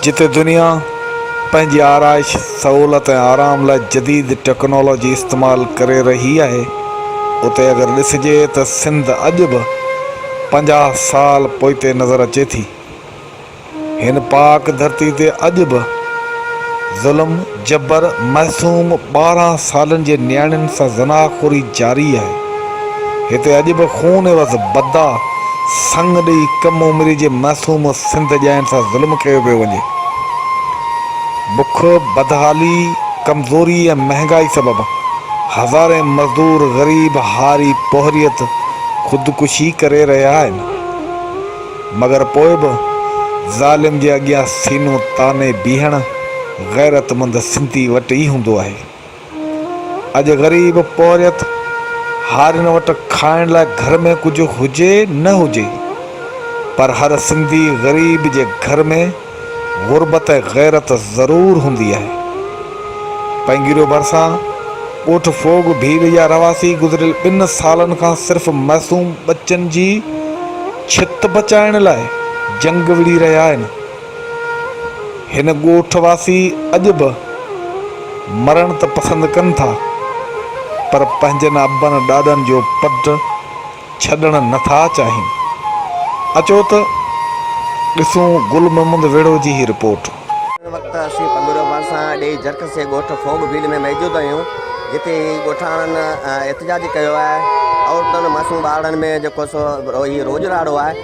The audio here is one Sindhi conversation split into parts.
جتي دنيا پنهنجي آرائش، سهولت ۽ آرام لاء جديد ٽيڪنالاجي استعمال ڪري رهي آهي، اتي اگر ڏسجي ته سنڌ اڄ به پنجاهه سال پوئتي نظر اچي ٿي. هن پاڪ ڌرتي تي اڄ به ظلم، جبر، معصوم ٻارهن سالن جي نياڻين سان زناح خوري جاري آهي، هتي اڄ به خون عيوض بدا، سڱ ڏئي ڪم عمري جي معصوم سنڌ ڄائين سان ظلم ڪيو پيو وڃي. بک، بدحالي، ڪمزوري ۽ مهنگائي سبب هزارين مزدور غريب هاري پوهريت خودڪشي ڪري رهيا آهن. مگر پوء به ظالم جي اڳيان سينو تاني بيهڻ غيرتمند سنڌي وٽ ئي هوندو آهي. اڄ غريب پورهيت هارين وٽ کائڻ لاء گهر ۾ ڪجهه هجي نه هجي پر هر سنڌي غريب جي گهر ۾ غربت ۽ غيرت ضرور هوندي آهي. پينگيريو ڀرسان ڳوٺ فوگ ڀيل جا رهواسي گذريل ٻن سالن کان صرف معصوم ٻچن جي ڇت بچائڻ لاء جنگ وڙهي رهيا آهن. هن ڳوٺ واسي اڄ به مرڻ ته پسند ڪن ٿا پر پنهنجن ابن ڏاڏن جو پٽ ڇڏڻ نه ٿا چاهين. اچو ته ڏسون گل محمد ويڙهو جي هي رپورٽ. هن وقت اسين پنگوريو ڀرسان ڏيئي جرڪس جي ڳوٺ ڦوڳ ڀيل ۾ موجود آهيون جتي ڳوٺاڻن احتجاج ڪيو آهي عورتن معصوم ٻارڙن ۾ جيڪو سو هي روڄ راڙو آهي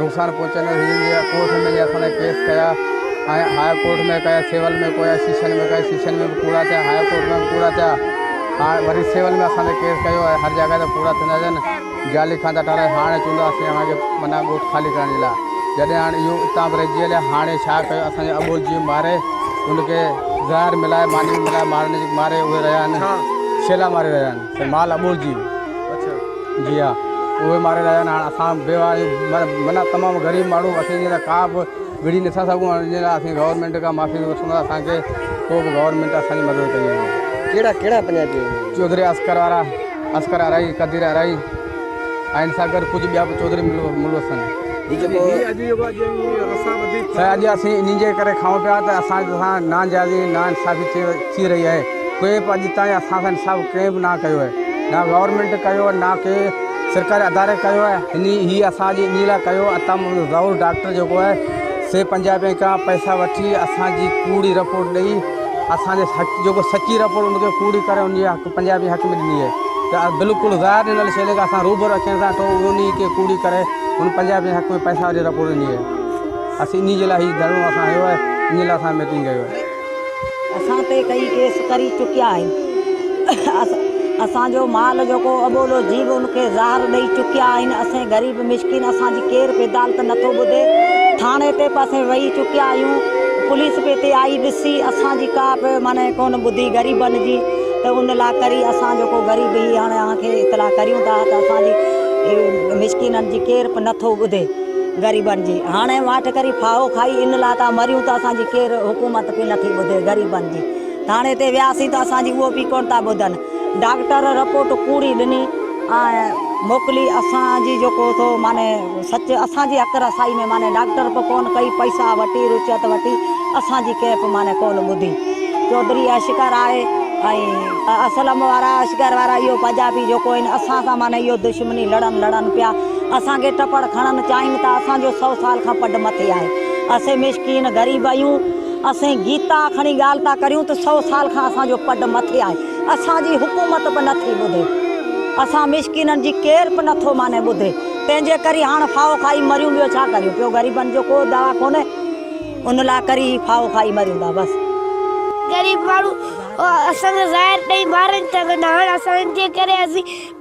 نقصان پهچائيندڙ هيرن جي ڪورٽ ۾ اسان لاء ڪيس ڪيا ۽ هاء ڪورٽ ۾ ڪيا سول ۾ ڪيا سيشن ۾ ڪيا سيشن ۾ به پورا ٿيا هاء ڪورٽ ۾ به پورا ٿيا هاڻ وري سول ۾ اسان تي ڪيس ڪيو ۽ هر جڳهه تي پورا ٿيندا اچن جعلي کاندا ٽارايا هاڻي چوندو اسين اوهان کي منا ڳوٺ خالي ڪرڻ جي لاء جڏهن هاڻ اهو اتان به رهجي هليا هاڻي ڇا ڪيو اسان جي اٻول جيئن ماري ان کي زهر ملائي ماني ملائي مارڻ جي ماري اهي رهيا آهن شيلا ماري رهيا آهن مال اٻول جي جي ها اهي ماري رهيا آهن هاڻ اسان بي واهه آهيون معنيٰ تمام غريب ماڻهو اسين جي لاء ڪا به وڙهي نٿا سگهون ان جي لاء اسين گورنمينٽ کان معافي ٿي وٺون ٿا اسان کي ڪو به گورنمينٽ اسان جي مدد ڪري وڃي ڪهڙا ڪهڙا پنجابي آهن چوڌري اصغر وارا اصغر ارائي قدير ارائي ۽ سان گڏ ڪجهه ٻيا به چوڌري ملوث آهن هي جيڪو اڄ اسين انهن جي ڪري کائون پيا ته اسان سان ناجائزي ناانصافي ٿي رهي آهي ڪوئي به اڄ تائين اسان سان انصاف ڪنهن به نه ڪيو آهي نه گورنمينٽ ڪيو نه ڪي سرڪاري اداري ڪيو آهي ان هي اسان جي انهي لاء ڪيو اتان ضرور ڊاڪٽر جيڪو آهي سي پنجاهه رپين کان پئسا وٺي اسان جي ڪوڙي رپورٽ ڏئي اسان جي حق جيڪو سچي رپورٽ ان کي ڪوڙي ڪري ان جي حق پنجاهه رپين حق ۾ ڏني آهي ته بلڪل ظاهر ڏنل شيء جيڪا اسان روبرو اکين سان ٺو ان کي ڪوڙي ڪري ان پنجاهه رپين حق ۾ پئسا وٺي رپورٽ ڏني آهي اسين ان جي لاء هي ڌرڻو اسان هنيو آهي ان لاء اسان ميٽنگ ڪيو آهي اسان تي ڪيئي ڪيس ڪري چڪيا آهن. اسان جو مال جو ڪو اٻولو جيو ان کي زهر ڏئي چڪيا آهن. اسين غريب مسڪين اسان جي ڪير به عدالت نٿو ٻڌي. ٿاڻي تي به اسين ويهي چڪيا آهيون. پوليس به هتي آئي ڏسي اسان جي ڪا به معني ڪونه ٻڌي غريبن جي ته ان لاء ڪري اسان جو ڪو غريب هي هاڻي اوهان کي اطلاع ڪريون ٿا ته اسان جي مسڪينن جي ڪير به نٿو ٻڌي. غريبن جي هاڻي واٺ ڪري ڦاهو کائي ان لاء ٿا مريون ته اسان جي ڪير حڪومت پي نٿي ٻڌي غريبن جي ٿاڻي تي وياسين ته اسان جي اهو پي ڪونه ٿا ٻڌن ڊاڪٽر رپورٽ ڪوڙي ڏني ۽ موڪلي اسان جي جيڪو ٿو معنی سچ اسان جي اڪر اسائي ۾ معنی ڊاڪٽر به ڪونه ڪئي پئسا وٺي رچيت وٺي اسان جي ڪنهن به معنی ڪونه ٻڌي چوڌري اشڪر آهي ۽ اسلم وارا اشڪر وارا اهو پنجابي جيڪو آهن اسان سان معنی اهو دشمني لڙن لڙن پيا اسان کي ٽپڙ کڻن چاهين ته اسان جو سؤ سال کان پڍ مٿي آهي اسين مسڪين غريب اهيون اسين گيتا کڻي ڳالهه ٿا ڪريون ته سؤ سال کان اسان جو پڍ مٿي آهي اسان جي حڪومت به نٿي ٻڌي اسان مسڪينن جي ڪير به نٿو ماني ٻڌي تنهن جي ڪري هاڻ ڦاهو کائي مريون ٻيو ڇا ڪريون پيو غريبن جو ڪو دوا ڪونهي ان لاء ڪري ڦاهو کائي مريون ٿا بس غريب ماڻهو اسان کي زهر ڏئي مارن ٿا ڪندا هاڻ اسان جي ڪري اسين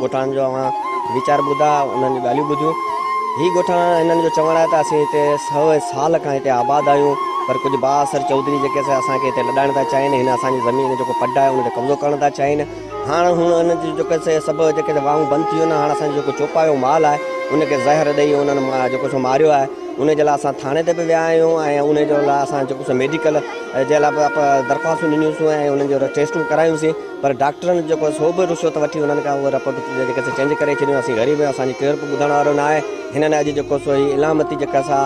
ڳوٺاڻن جو اوهان ويچار ٻڌا، انهن جون ڳالهيون ٻڌيون. هي ڳوٺاڻا هنن جو چوڻ آهي ته اسين هتي سؤ سال کان هتي آباد آهيون پر ڪجهه بااثر چوڌري جيڪي سي اسان کي هتي لڏائڻ ٿا چاهين، هن اسان جي زمين جو جيڪو پڊ آهي ان تي قبضو ڪرڻ ٿا چاهين. هاڻ هن انهن جون جيڪي سي سڀ جيڪي سي واهون بند ٿي ويون آهن، هاڻ اسان جو جيڪو چوپايو مال آهي ان کي زهر ڏئي انهن جيڪو سو ماريو آهي، ان جي لاء اسان ٿاڻي تي به ويا آهيون ۽ ان جي لاء اسان جيڪو سو ميڊيڪل جي لاء به درخواستون ڏنيون سون ۽ انهن جون ٽيسٽون ڪرايون سين. پر ڊاڪٽرن جيڪو آهي سو به رشوت وٺي انهن کان اهي رپورٽ جيڪي سي چينج ڪري ڇڏيون اسين غريب آهيون اسان جي ڪير به ٻڌڻ وارو نه آهي هنن اڄ جيڪو سو هي علامتي جيڪا سا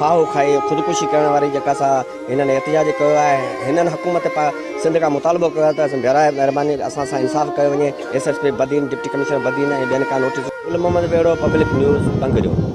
ڦاهو کائي خودڪشي ڪرڻ واري جيڪا سا هنن احتجاج ڪيو آهي هنن حڪومت پا سنڌ کان مطالبو ڪيو آهي ته اسين براهه مهرباني اسان سان انصاف ڪيو وڃي S S P Badin deputy commissioner Badin ۽ ٻين کان نوٽيس گل محمد ٻيڙو پبلڪ نيوز ٽنگريو.